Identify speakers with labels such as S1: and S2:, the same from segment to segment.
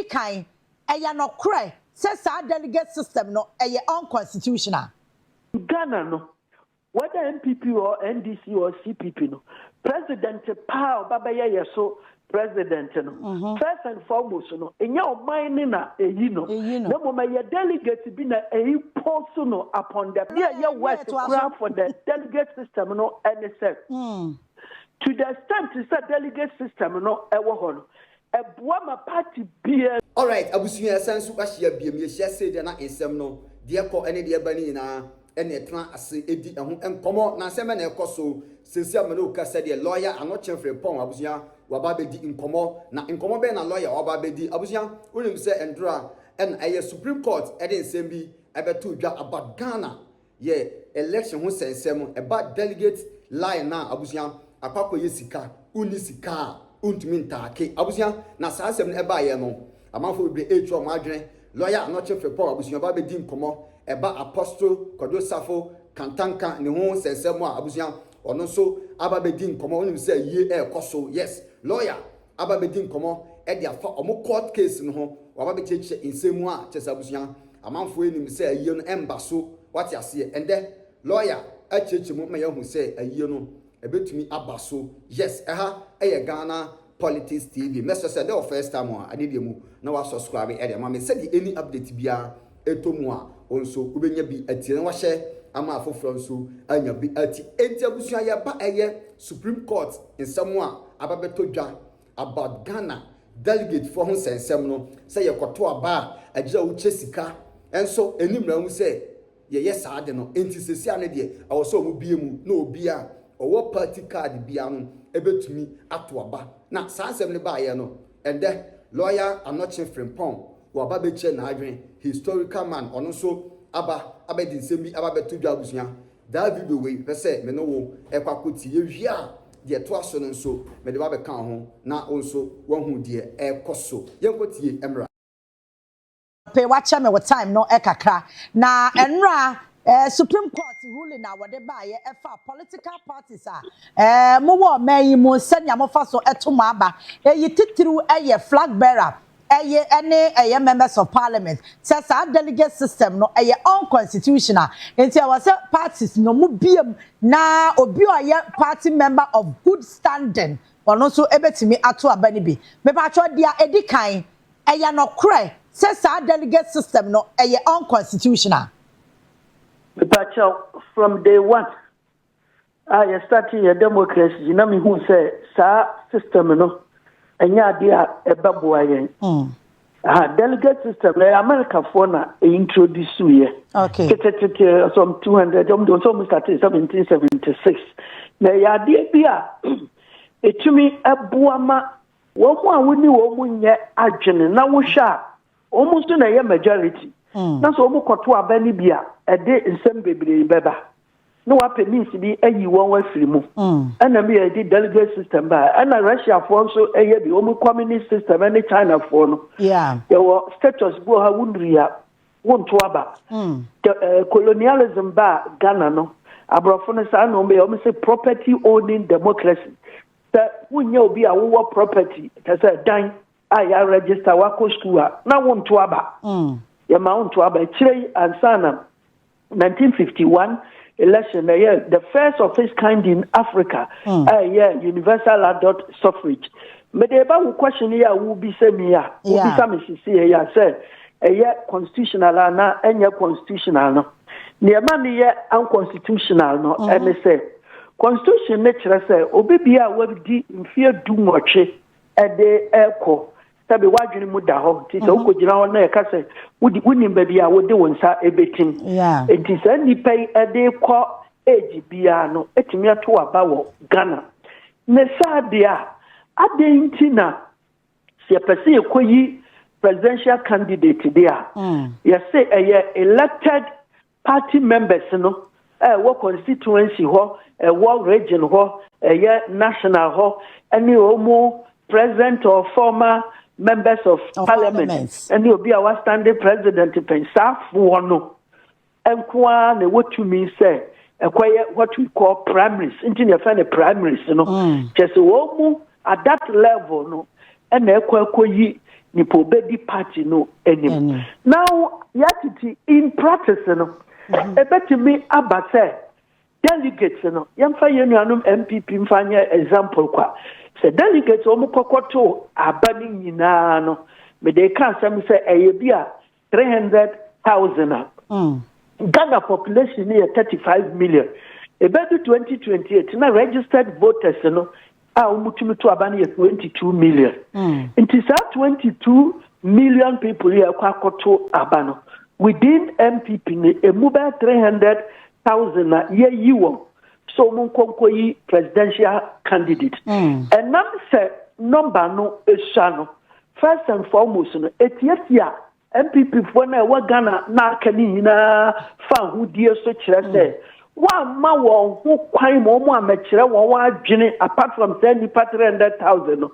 S1: Edi kan, ɛyɛ nokorɛ sɛ saa delegate system no ɛyɛ unconstitutional. Ghana
S2: no, whether NPP or NDC or CPP no, president paa a ɔba bɛyɛ yɛ so president no, first and foremost no, nyɛ ɔman no na ɛyi no, na mmom ɛyɛ delegate bi na ɛimpose no upon them. Deɛ ɛyɛ worse koraa for the delegate system no ne sɛ, to the extent sɛ delegate system no wɔ hɔ no, Ɛboa ma party biaa. Alright abusua
S3: yɛsan nso ahyia biom yɛhyia sei deɛ na nsɛm no deɛ ɛkɔ ne deɛ ɛba no nyinaa na ɛtena ase di ɛho nkɔmɔ na nsɛm bɛn na ɛkɔso seesei a me ne wo kasa deɛ lɔya Anokye Frimpong abusua waba abɛdi nkɔmɔ na nkɔmɔ bɛn na lɔya waba abɛdi abusua wonim sɛ nnora na ɛyɛ supreme court de nsɛm bi ɛbɛtoo dwa about Ghana yɛ election ho sɛnsɛm ɛba delegate line no a abusua akɔ akɔ yɛ sika wonni sika a wontumi ntaake abusua na saa asɛm no ɛbaeɛ no amanfoɔ bebree ɛretua wɔn adwene lawyer anɔkye frepɔw abusua ba bɛdi nkɔmɔ ɛba apostle kwadwo safo kantanka ne ho sɛnsɛm a abusua ɔno nso aba bɛdi nkɔmɔ wonim sɛ yie ɛrekɔ so yes lawyer aba abɛdi nkɔmmɔ de afa wɔn court case no ho, wɔaba abɛkyerɛkyerɛ nsɛm mu a kyerɛ sɛ abusua amanfoɔ yi nim sɛ ayie no ɛmba so, woate aseɛ? Ɛndɛ lawyer akyerɛkyerɛ mu ma yɛahu sɛ ayie no ɛbɛtumi aba so. Yes, ɛha yɛ Ghana Politics TV. Mɛsrɛ sɛ dɛ wɔ first time a, adeɛ deɛ mu na woasɔskraibe de ama me sɛdeɛ any update biara ɛtɔ mu a, wo nso wobɛnya bi atie na wahyɛ ama afoforɔ nso anya bi atie. Enti abusua yɛba ɛyɛ Supreme Court nsɛm a aba bɛtɔ dwa about Ghana delegate foɔ ho nsɛnsɛm no, sɛ yɛkɔto aba a ɛgyina a wokyɛ sika nso ɛni mmara mu sɛ yɛyɛ saa ade no. Enti sɛsi a no deɛ ɛwɔ sɛ ɔmo bue mu na obi a ɔwɔ party card biara no ɛbɛtumi ato aba. Na saa nsɛm no baeɛ no Ɛdɛ, lɔya Anokye Frimpong wɔ aba bɛkyerɛ n'adwene, historical man ɔno nso aba abɛde nsɛm bi aba abɛto dwa abusua, daa video wei pɛ sɛ me ne wo ɛkɔ akɔ tie, yɛwie a deɛ ɛtoa so no nso mede wo abɛka ho na wo nso woahu deɛ ɛrekɔ so. Yɛnkɔ tie mmra.
S1: Pay wakyɛ me wo time no kakra. Na ɛnora eh, Supreme Court ruling a wɔde baayɛ ɛfa political parties a eh, mo wɔ ɔman yi mu sɛnea mofa so ɛto mo aba. Eyi titiriw ɛyɛ flag bearer ɛye ɛne ɛyɛ members of parliament. Sɛ saa delegate system no ɛyɛ unconstitutional. Nti ɛwɔ sɛ parties no mo biem na obi a ɔyɛ party member of good standing ɔno nso ɛbɛtumi ato aba no bi. Mepatwɔ deɛ ɛdi kan Ɛyɛ nokorɛ sɛ saa delegate system no ɛyɛ unconstitutional.
S2: Mepakyɛw, from day one a yɛ startee yɛ democracy yi na me hu sɛ saa system no ɛnyɛ adeɛ a ɛbɛboa yɛn. Aha, delegate system no ɛyɛ Americafoɔ na introduce yɛ. Okay.
S1: Tetetete
S2: some 200 wɔn de wɔn sɛ wɔn startee 1776 na ɛyɛ adeɛ bi a ɛtumi ɛboa ma wɔn a wo ne wɔn nyɛ adwene na wohwɛ a wɔn nso na ɛyɛ majority mm. na sɛ wɔn kɔto aba no bi a ɛde nsɛm bebree bɛba na wapɛ means bi ayi wɔn afiri mu mm. ɛna mi yɛ de delegate system ba ɛna russiafoɔ nso ɛyɛ bi wɔn communist system ɛne chinafoɔ no yɛwɔ status bi wɔ ha wonuri a wonto aba mm. eh, colonialism ba ghana no aborɔfo no saa na wɔn yɛ wɔn sɛ property owning democracy. Sɛ wonyɛ obi a wowɔ property kyɛ sɛ dan a yɛaregister wakɔ sukuu a na wonto aba mm. yɛma wonto aba akyire yi ansa na 1951 election ɛyɛ the first of its kind in africa mm. ɛyɛ universal adult suffrage mede ba wo question yi a wobisa mi a wobisa me seseɛ yi a sɛ ɛyɛ constitutional anaa ɛnyɛ constitutional no Nea ɛma no yɛ unconstitutional no mhm. ɛne sɛ constitution no kyerɛ sɛ obi bia a wadi mfeɛ du nwɔtwe ɛde ɛkɔ sɛbi wadwene mu da hɔ nti sɛ mhm. wokɔgyina hɔ na ɛka sɛ wonim baabi a wode wo nsa ɛbɛtim nti saa nnipa yi ɛde kɔ age biara no ɛtumi ato aba wɔ ghana ne saa deɛ a adɛn nti na sɛ yɛpɛ sɛ yɛkɔyi presidential candidate de a yɛse ɛyɛ elected party members no a ɛwɔ constituency hɔ ɛwɔ region hɔ ɛyɛ national hɔ ɛne ɔmo present or former members of parliament ɛne obi a wastande president pɛn saafoɔ no nko ara na ɛwɔ tumi sɛ ɛkɔyɛ what we call primaries nti na yɛfrɛ no primaries no mm. kyɛ sɛ wɔn mu at that level no ɛna ɛkɔ ɛkɔyi nipa obedi party no anim now yɛatete in practice no ɛbɛtumi mm-hmm. aba sɛ delegates no yɛmfa yɛn nuanom npp mfa nyɛ example kwa sɛ delegates wɔn kɔkɔto aba no nyinaa no mede ka asɛm sɛ ɛyɛ bi a three hundred thousand a mm. ghana population no yɛ thirty five million ɛbɛdu twenty twenty eight na registered voters no a wɔtumi to aba no yɛ twenty two million mm. nti saa twenty two million people yɛ ɛkɔ akɔto aba no within mpp no ɛmu bɛyɛ three hundred thousand na yɛyi wɔn so wɔn nkɔnkɔ yi presidential candidate ɛnam mm. sɛ nɔmba no esua no First and foremost no, etiatia NPPfoɔ no a ɛwɔ Ghana na aka ne nyinaa fa ahodie so kyerɛ sɛ mm. wɔamma wɔn ho kwan ma wɔn amɛkyerɛ wɔn adwene apart from sɛ nnipa 300,000 no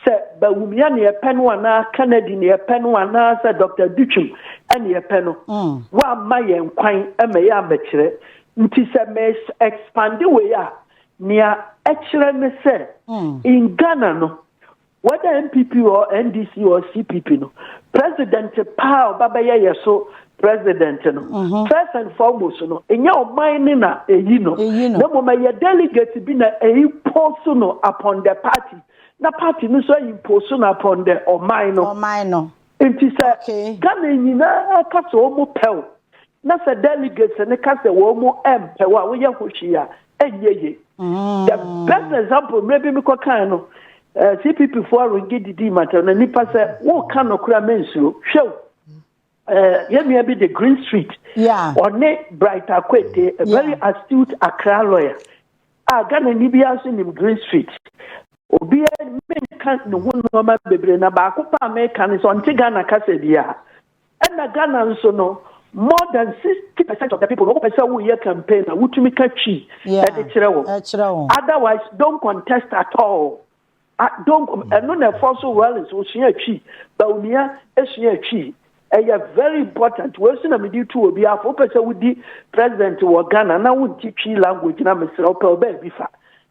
S2: sɛ bawumia ne ɛpɛ no anaa Kennedy ne ɛpɛ no anaa sɛ Dr. Dutwim ne ɛpɛ no mm. wɔamma yɛn kwan ma yɛ amɛkyerɛ nti sɛ mɛ expande wei a nea ɛkyerɛ ne sɛ mm. in Ghana no Whether NPP or NDC or CPP no, president paa ɔba bɛyɛ yɛ so president no. Mm -hmm. First and foremost no, ɛnyɛ ɔman ne na ɛyi no. Na mmom ɛyɛ delegate bi na ɛyi poso no upon the party. Na party no nso ɛyi poso no upon the ɔman no. Ɔman no. Nti sɛ Ghana nyinaa ka sɛ wɔn pɛw Na sɛ delegates no ka sɛ wɔn mpɛ wo a, woyɛ ho hwee a, ɛnyɛ ye. Mm. The best example, mmerɛ bi mekɔ kan no, eh, CPP foɔ aronge didii matɛw na nipa sɛ woka nokora mensuro. Hwɛ o, eh, yɛn nua bi de Green Street, yeah. ɔne Bright Akwete, a very yeah. astute Accra lawyer, a Ghana ni bi aso nim Green Street. Obiara menka ne ho nneɛma bebree na baako paa meka ne sɛ ɔnte Ghana kasa biara. Ɛna Ghana nso no more than sixty percent of the people no wɔpɛ sɛ woyɛ campaign a wotumi ka Twi de kyerɛ wɔn. Otherwise don't contest at all. Don't ɛno na ɛfɔ so Rollins osua Twi, Bawumia esua Twi. Ɛyɛ very important. Wei nso na mede tu obi afo wopɛ sɛ wodi president wɔ Ghana na wonte Twi language na mesrɛ wopɛ ɔbaa bi fa.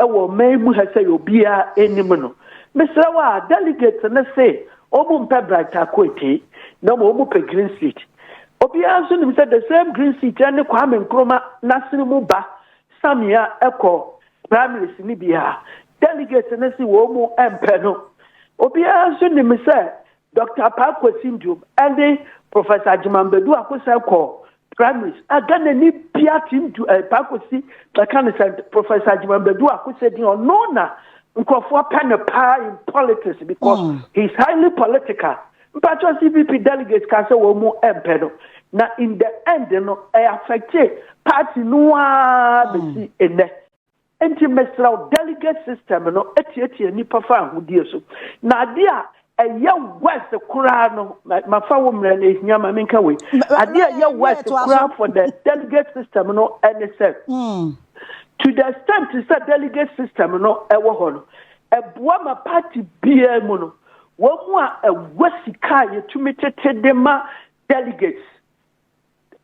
S2: Ɛwɔ ɔman yi mu ha sɛɛ obiara nim no. Mesrɛ wo a, delegates no se wɔn mpɛ Bright Akoetee na mmom wɔn pɛ green seat. Obiara nso nim sɛ the same green seat ne Kwame Nkrumah n'asene mu ba Samia kɔ primaries no bi a delegates no se wɔn mpɛ no. Obiara nso nim sɛ Doctor Apaa Kwasi Nduom ne Professor Agyeman Badu Akosɛe kɔ Primaries a Ghana ni bia team du eh, baako si bɛka ne sɛ Professor Agyemambadu Akosɛdin ɔno na nkurɔfoɔ pɛ no paa in politics because mm. he is highly political mpakyɛ CPP delegates ka sɛ wɔn mu mpɛ no na in the end no ɛyɛ affecte party no ara bɛsi nnɛ. Enti mesrɛ wo, delegate system no atiatia nnipa fa ahodie so. Na adeɛ a ɛyɛ worse koraa no, mafa wo mmerɛ no ɛhia ma menka wei. Adeɛ a ɛyɛ worse koraa for the delegate system no ɛne sɛ, hmm. to the extent sɛ delegate system no ɛwɔ hɔ no, ɛboa ma party biara mu no, wɔn mu a ɛwɔ sika a yɛtumi tete de ma delegates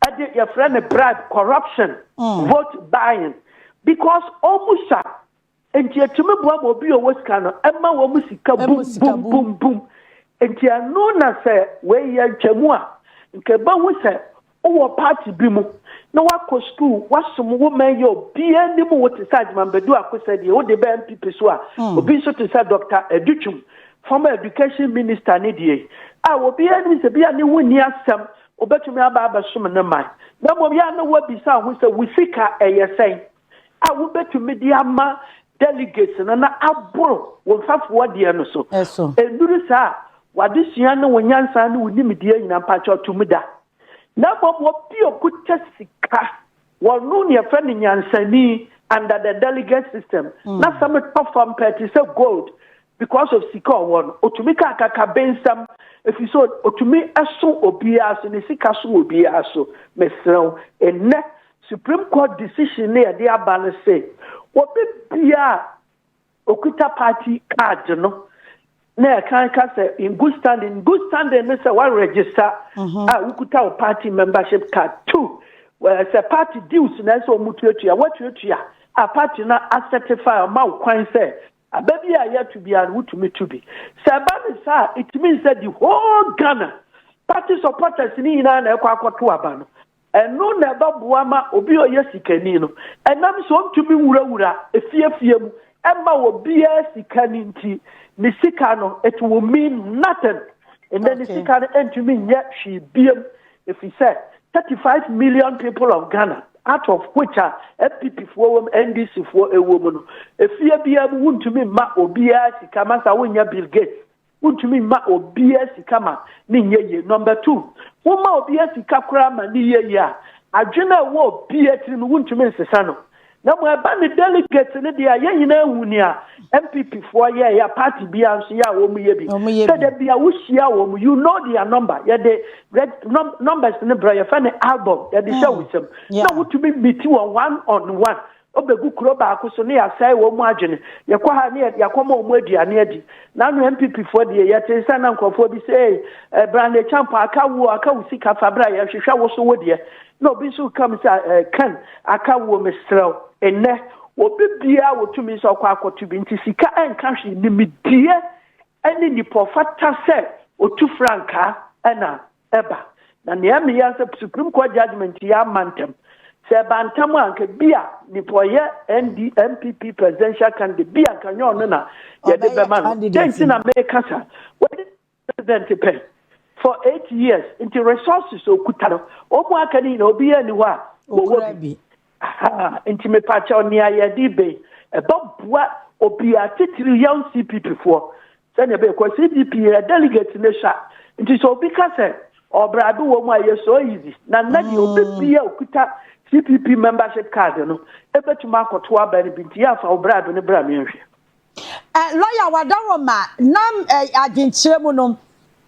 S2: ɛde yɛfrɛ no bribe corruption mm. vote buying because ɔmu sa nti ɛtumi boa ma obi ɔwɔ sika no ɛma wɔn mu sika bum bum bum bum nti ɛno na sɛ wɔyɛ ntwamu a nka ɛbɛhu sɛ wowɔ party bi mu na wakɔ sukuu wasom wo ma yɛ obiara anim wo te sɛ agyemambadu akosɛ deɛ wode bɛ mpp so a mm. obi nso te sɛ dɔkta adutwum former education minister ne deɛ a obiara anim sɛ bia ne ho nni asɛm Obetumi aba abɛsom ne man, na mmom yɛ a na woabisa ho sɛ, Wo sika ɛyɛ sɛn a wubetumi de ama delegates no na aboro wo mfɛfoɔ deɛ no so? Ɛso. Ɛnnuru saa a, w'adesua ne wo nyansa ne wo nimdeɛ nyinaa, mpakyɛw, tumi da. Na mmom wɔpio ko kyɛ sika. Wɔnoo nea yɛfrɛ no nyansani under the delegate system. Na sɛ metɔ fam pɛ te sɛ gold because of sika ɔwɔ no. Otumi ka akakabensɛm ɛfiri sɛ otumi so obiara so, ne sika so obiara so. Mesrɛ wo, nnɛ Supreme Court decision no a ɛde aba no se, obi biara a Okuta party card no na ɛkan ka sɛ in good standing in good standing ne sɛ wa register mhm. a wokuta wo party membership card two sɛ party dues na ɛsɛ wɔn tuatua wɔtuatua a party na asɛtify ɔma wo kwan sɛ aba bi a yɛtu bi a wotumi tu bi sɛ ɛba ne saa it means sɛ the whole ghana party supporters ni nyinaa na ɛkɔ akɔto aba no Ɛno na ɛbɛboa ma obi a ɔyɛ sikani no ɛnam sɛ ɔntumi nwurawura afiafia mu mma obiara sika no nti, ne sika no, it will mean nothing. Ɛnɛ ne sika no ntumi nyɛ hwee biam ɛfiri sɛ 35 million people of Ghana out of which a NPP foɔ wɔ mu, NDC foɔ ɛwɔ mu no, ɛfie biara mu wontumi mma obiara sika, masa wonyɛ Bill Gates. Wontumi mma obiara sika ma ne nyɛ yie. Number two, woma obiara sika koraa ma ne yɛ yie a, adwene a ɛwɔ obiara tirim wontumi nsesa no. Na mmom ɛba ne delegates no deɛ a, yɛn nyinaa hu nea NPP foɔ yɛɛyɛ a, party biara nso yɛ a wɔyɛ bi. Sɛ da bi a wohyia wɔn, you know their number, yɛde reg, num, numbers no brɛ, yɛfrɛ no album, yɛde hyɛ wo nsam. Na wotumi meet wɔn one on one. Wɔbɛgu kuro baako so ne yɛasɛe wɔn mu adwene. Yɛkɔ ha ne yɛakɔma wɔn mu aduane adi. Nano NPP foɔ deɛ, yɛtee sɛ na nkorɔfoɔ bi sɛ ei, eh, Brand Acheampong, aka wuo, aka wo sika fa bra, yɛhwehwɛ wo so wo deɛ. Na obi nso reka me sɛ, eh, Ken, aka wuo, mesrɛ wo. Nnɛ, obi biara wɔtumi sɛ ɔkɔ akɔto bi. Nti sika ɛnka hwee. Nimdeɛ ne nipa ɔfata sɛ ɔtu frankaa na ɛba. Na nea ɛmee ya sɛ Supreme Court judgement yi amma ntɛm. Sɛ ɛba ntɛm a anka bi a nipa ɔyɛ ND NPP presidential candidate bi a anka nyɛ ɔno na yɛde bɛma no. Dɛn nti na meka saa? Wɔde president pɛn for eight years nti resources okuta no wɔn aka no nyinaa obiara ni hɔ a wɔwɔ bi. Nti mepaakyɛw nea yɛde bɛ ɛbɛboa obia titiri young CPP foɔ sɛnea ɛbɛyɛ kɔ CPP yɛ delegate ne hwa nti sɛ obi ka sɛ ɔbrado wɔ mu a yɛ so easy na nna deɛ obi mm. bi a okuta CPP membership card no ɛbɛtumi akɔto aba no bi nti yɛ afa ɔbrado ne bra mmiɛnhwɛ. Ɛ, lɔya
S1: Wadaroma nam ɛ, adwenkyerɛ mu no,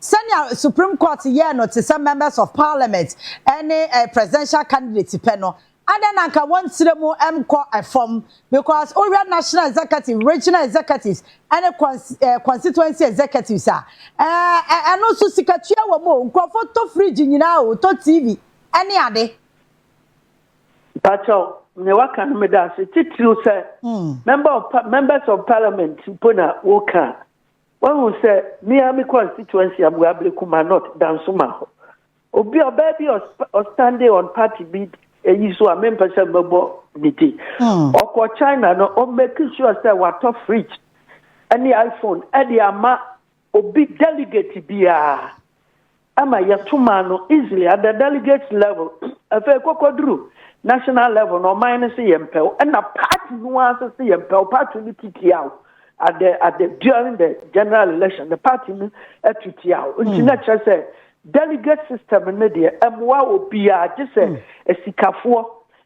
S1: sɛnea Supreme Court yɛɛ no te sɛ Members of Parliament ne ɛ, Presidential Candidate pɛ no, adɛn na anka wɔn tire mu nkɔ fam? Because wohwɛ National Executive, Regional Executives ne Cons, ɛ, Constituency Executives a, ɛ, ɛ, ɛno nso sikatua wɔ mu o, nkurɔfo tɔ fridge nyinaa o, tɔ TV ne ade. Mpakyɛw,
S2: nea waka no meda ase titiriw sɛ member of members of parliament mpo na woka a, wahu sɛ me ara me constituency Abuabere Kuma North Dansoma hɔ. Obi ɔbaa bi ɔstande on party bi eyi so a mempɛ sɛ mɛbɔ ne din. Ɔkɔ China no, ɔmmake sure sɛ watɔ fridge ne iPhone de ama Obi delegate biara ama yɛto maa no easily at the delegate level afei kɔkɔduru national level na ɔman no se yɛn pɛw ɛna party no ara nso se yɛn pɛw party no titiaw at the at the during the general election the party no atitiaw hmm. nti na kyerɛ sɛ delegate system no deɛ ɛmoa obiara gye sɛ hmm. asikafoɔ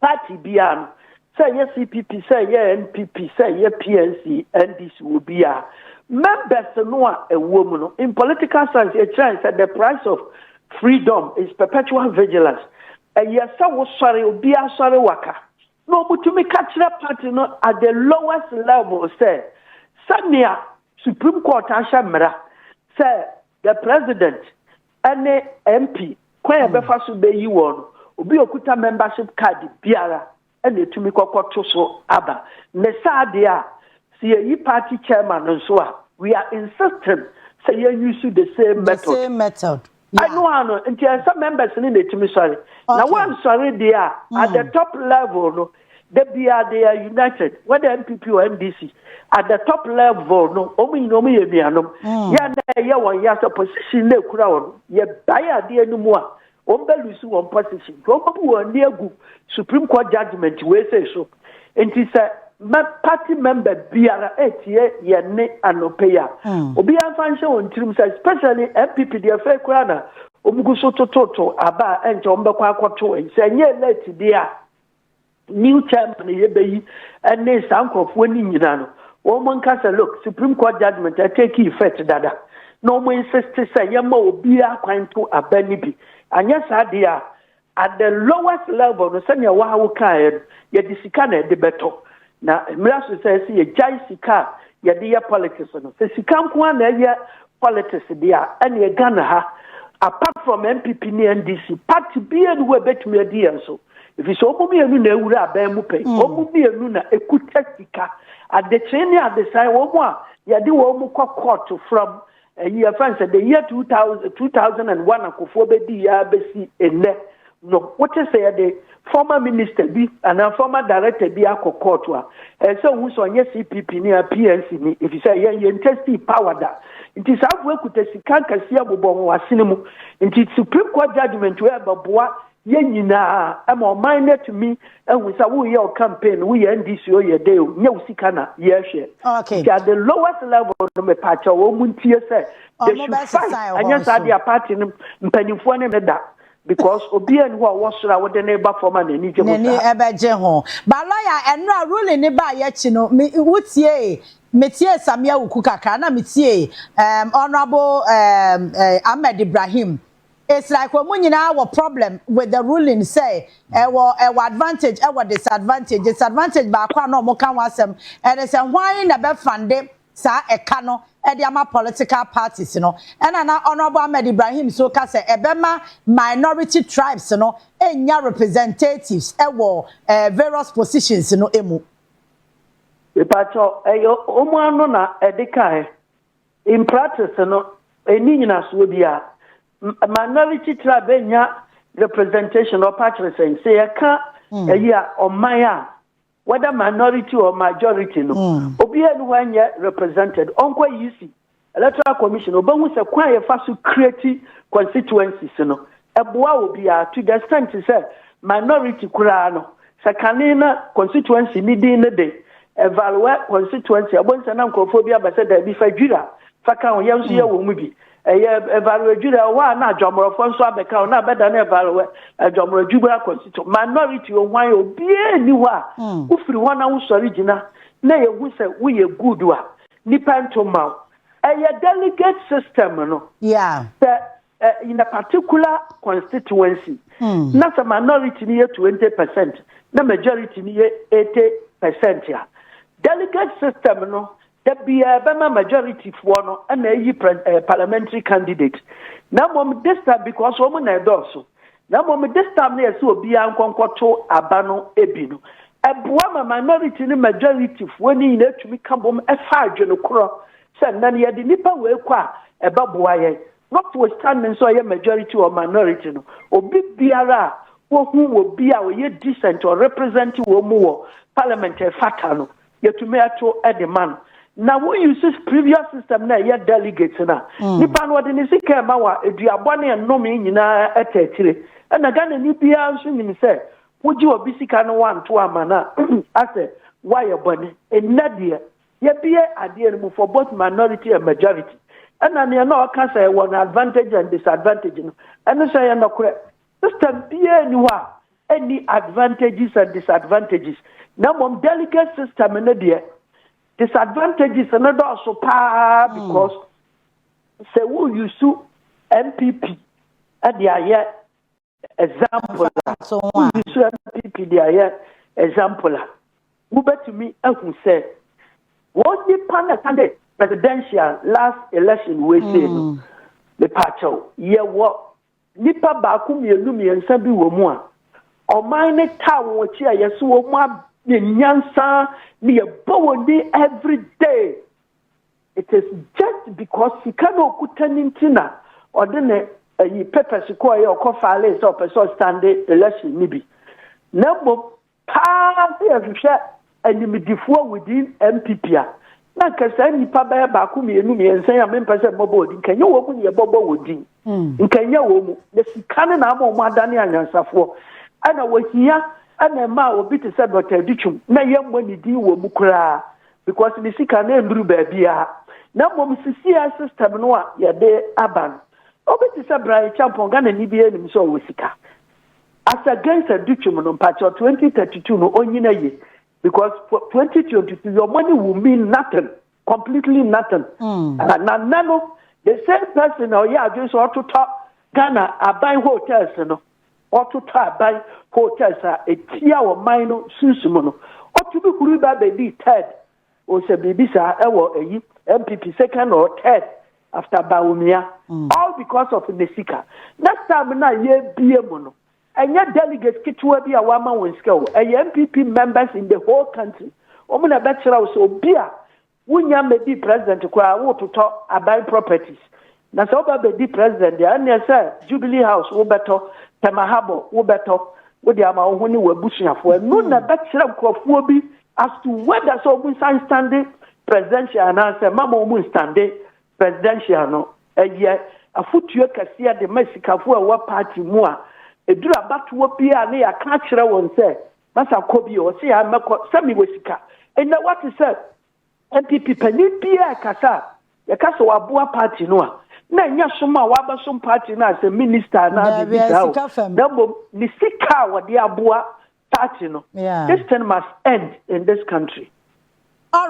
S2: Party biara no, sɛ ɛyɛ CPP, sɛ ɛyɛ NPP, sɛ ɛyɛ PNC, NDC, obiara, members no a ɛwɔ mu no, in political science, yɛkyerɛ sɛ the price of freedom is perpetual vigilance. Ɛyɛ sɛ wosɔre, obiara sɔre waka. Na wɔtumi ka kyerɛ party no at the lowest level sɛ, sɛnea Supreme Court ahyɛ mmara sɛ the president ɛne MP kwan a ɛbɛfa so bɛyi wɔn no, obi a ɔkuta membership card biara ɛna ɛtumi kɔkɔto so aba. Ne saa deɛ a, sɛ yɛyi party chairman nso a, we are insisting sɛ yɛn use the same method. The same method. Ɛno ara no, nti ɛsɛ members no na ɛtumi sɔre. Na wɔansɔre deɛ a, at the top level no, Da biara they are united, whether NPP or NDC, at the top level no, wɔn nyinaa wɔn yɛ nuanom. Mm. Yɛn na ɛyɛ wɔn yɛ sɛ position na ekura wɔn. Yɛ bae adeɛ no mu a, wɔn bɛ lose wɔn position. Nti wɔn bɛbu wɔn ani agu Supreme Court judgement wei sɛ so. Nti sɛ mɛ party member biara etie yɛn ne anɔpɛ yi a, mm. obiara nfa nhyɛ wɔn tirim sɛ especially NPP deɛ fɛ kura na wɔn gu so tototo aba a ɛnkyɛ wɔn bɛkɔ akɔto. Sɛ nyɛ late deɛ a. new chairman yɛ bɛ yi ɛne saa nkurɔfoɔ ne nyina no wɔn nka sɛ look supreme court judgment ɛtake effect dada na wɔn insist sɛ yɛma obiara kwan to aba no bi anyɛ saa deɛ a at the lowest level no sɛnea wɔawo kaeɛ no yɛde sika na ɛde bɛtɔ Na mmira so sɛ ɛsɛ yɛgyae sika a yɛde yɛ politics no. Sɛ sika nko ara na ɛyɛ politics deɛ a, ɛneɛ Ghana ha, apart from NPP ne NDC, party biara ni hɔ a ɛbɛtumi adi yɛn so. Ɛfiri sɛ wɔn mmienu na awura abɛn mu pɛn. Wɔn mmienu na ɛkuta sika. Adekyee ne Adesae, wɔn a yɛde wɔn kɔ kɔɔto fra mu Eyi yɛfrɛ no sɛ the year 2000, 2001 akofoɔ bɛdii yɛ abɛsi nnɛ no wote sɛ yɛde former minister bi anaa former director bi akɔ court a ɛyɛ sɛ wohu sɛ ɔnyɛ cpp ni a pnc ni ɛfiri sɛ yɛn yɛn testi power da nti saa afoɔ kuta sika nkɛseɛ bobɔ wɔn asene mu nti supreme court judgment wɔ ɛbɛboa Yɛn nyinaa, ɛma ɔman no atumi ahu sɛ woyɛ wo campaign no, woyɛ NDC o, yɛ dɛ o, nyɛ wo sika na yɛhwɛ. Okay. Nti at the
S1: lowest
S2: level no, mepaakyɛ wɔn mu ntie sɛ, they should fight, anyɛ saa deɛ party no mpanimfoɔ ne no da. Because obiara ni hɔ a ɔwɔ soro a wode no reba fam a n'ani gye ho saa. N'ani ɛbɛgye ho.
S1: But lawyer, ɛno a ruling no baeɛ akyi no, me, wotiee, metiee Sammy Awuku kakra, ɛna metiee um, Honourable um, uh, Ahmed Ibrahim, It's like wɔn nyinaa wɔ problem with the ruling sɛ ɛwɔ ɛwɔ advantage ɛwɔ disadvantage. Disadvantage baako a na wɔn ka ho asɛm ɛne sɛ hwan na ɛbɛ fande saa ɛka no ɛde ama political parties no. Ɛna na Honourable Ahmed Ibrahim nso ka sɛ ɛbɛma minority tribes no ɛnya representatives ɛwɔ ɛɛ various positions no ɛmu.
S2: Mepakyɛw ɛyɛ wɔn ano na ɛde kaɛ In practice no, ɛnni nyinasoɔ biara. Minority tribe bɛnya representation ɔpa kyerɛ sɛn? Sɛ yɛka hmm. ɛyi a ɔman a whether minority or majority no hmm. obiara ni hɔ ɛnyɛ represented ɔnkɔ EC electoral commission ɔbɛhu sɛ kwan yɛfa so create constituencies no Ɛboa obiara to the extent sɛ minority koraa no, sɛ kane na constituency ne din ne de Evalue constituency, ɛbɔ nsɛ na nkurɔfoɔ bi aba sɛ daabi fa Dwira fa ka ho, yɛn nso yɛwɔ mu bi. Ɛyɛ Evalue Dwira, ɛwɔ hɔ a na Adwammorɔfoɔ nso abɛka ho na abɛda ne Evalue Adwammorɔ Dwira constituency. Minority o hwan obiara nni hɔ a wofiri hɔ na wosɔre gyina na yɛhu sɛ woyɛ good a, nnipa nto mma wo. Ɛyɛ delegate system no. Yeah. Sɛ
S1: uh,
S2: in a particular constituency mm. na sɛ minority ni yɛ 20 percent na majority ni yɛ 80 percent a delegate system no da biara bɛma majority foɔ no na ayi eh, parliamentary candidate na mmom this time because wɔn na ɛdɔɔso na mmom this time na yɛsɛ obiara nkɔnkɔto aba no ebi no ɛboa ma minority ne majority foɔ ne nyinaa tumi ka bom ɛfa adwene korɔ sɛ nnɛ no yɛde nnipa wei kɔ a ɛbɛboa yɛn notwithstanding sɛ ɔyɛ majority or minority no obi biara a wohu wɔ bi a ɔyɛ decent or represent wɔn mu wɔ parliament ɛfata no yɛtumi ɛto ɛde ma no na wo use previous system na ɛyɛ delegate na mm. nipa no ɔde ne sika ɛma wa eduabɔ ne nnome nyinaa ɛtɛ akyire ɛna Ghana ni biara nso nim sɛ wogye obi sika no wanto ama no a asɛ woayɛ bɔne ɛnnɛ deɛ Yɛbue adeɛ no mu for both minority and majority. Ɛna neɛ na ɔka sɛ ɛwɔ no advantage and disadvantage no, ɛno nso ɛyɛ nɔkorɛ. System biara nni hɔ a ɛnni advantages and disadvantages. Na mmom delegate system no deɛ, disadvantages no dɔɔso paa hmm. because sɛ wo use NPP ɛde ayɛ example a woyi so apipi de ayɛ example a wobɛtumi ahu sɛ wɔn nipa na ɛka dɛ presidential last election wei sei no mm. mepaakyɛw yɛwɔ nipa baako mmienu mmiɛnsa bi wɔ mu a ɔman ne taa wɔn akyi a yɛso wɔn ayɛ nyansa ne yɛbɔ wɔn din every day It is just because sika na okuta no nti na ɔde ne ayi papers kɔɔeɛ ɔkɔ faalee sɛ ɔpɛ sɛ ɔstande election no bi. Na mmom paa sɛ yɛhwehwɛ animdefoɔ within NPP a, na nka saa nnipa bɛyɛ baako mmienu mmiɛnsa yi a mempɛ sɛ mmɔbɔ wɔn din, nka ɛnyɛ wɔn na yɛbɔbɔ wɔn din. hmm. nka ɛnyɛ wɔn mu na sika no na ama wɔn adane anyansafoɔ ɛna wɔhia ɛna ɛma a obi te sɛ dɔkta aditwom na yɛmmɔ ne din wɔ mu koraa because ne sika no ɛnduru baabiara na mmom sisia system no a yɛde aba no obi te sɛ brian champon ghana ni bi anim sɛ ɔwɔ sika as against aditwom no mpakyɛ 2032 no ɔnyina yie because for 2022 your money will mean nothing completely nothing mm. uh, na nna no the same person na ɔyɛ adwene sɛ ɔtotɔ ghana aban hotels no ɔtotɔ aban hotels a ɛtia ɔman no sunsum no ɔtumi huri ba bɛdi third ɔsɛ biribi saa ɛwɔ ɛyi mpp second or third after baomia mm. all because of ne sika next time na yɛbie mu no Ɛnyɛ delegates ketewa bi a wɔama wɔn sika o, ɛyɛ NPP members in the whole country. Wɔn na ɛbɛkyerɛ wo sɛ obi a wonnya mmɛdii president koraa wototɔ aban properties. Na sɛ woba bɛdi president deɛ a, ɛnneɛ sɛ Jubilee House wobɛtɔ, Tema Harbour wobɛtɔ, wode ama wo ho ne w'abusuafoɔ. Ɛno na ɛbɛkyerɛ nkurɔfoɔ bi as to whether sɛ wɔnsan nstande presidential anaasɛ mamma wɔnstande Presidential no yɛ afotuo kɛseɛ de ma asikafoɔ a ɛwɔ party mu a ɛduru abatoɔ biara na yɛaka akyerɛ wɔn sɛ masa kɔ bio, ɔse yɛa mɛkɔ sɛ mewɔ sika. Nnɛ woate sɛ NPP panin biara ɛkasa a yɛka sɛ waboa party no a na ɛnyɛ som a wabɛsom party no a sɛ minister anaa biribi saa o, na mmom ne sika a ɔde aboa party no.
S1: This
S2: thing must end in this country.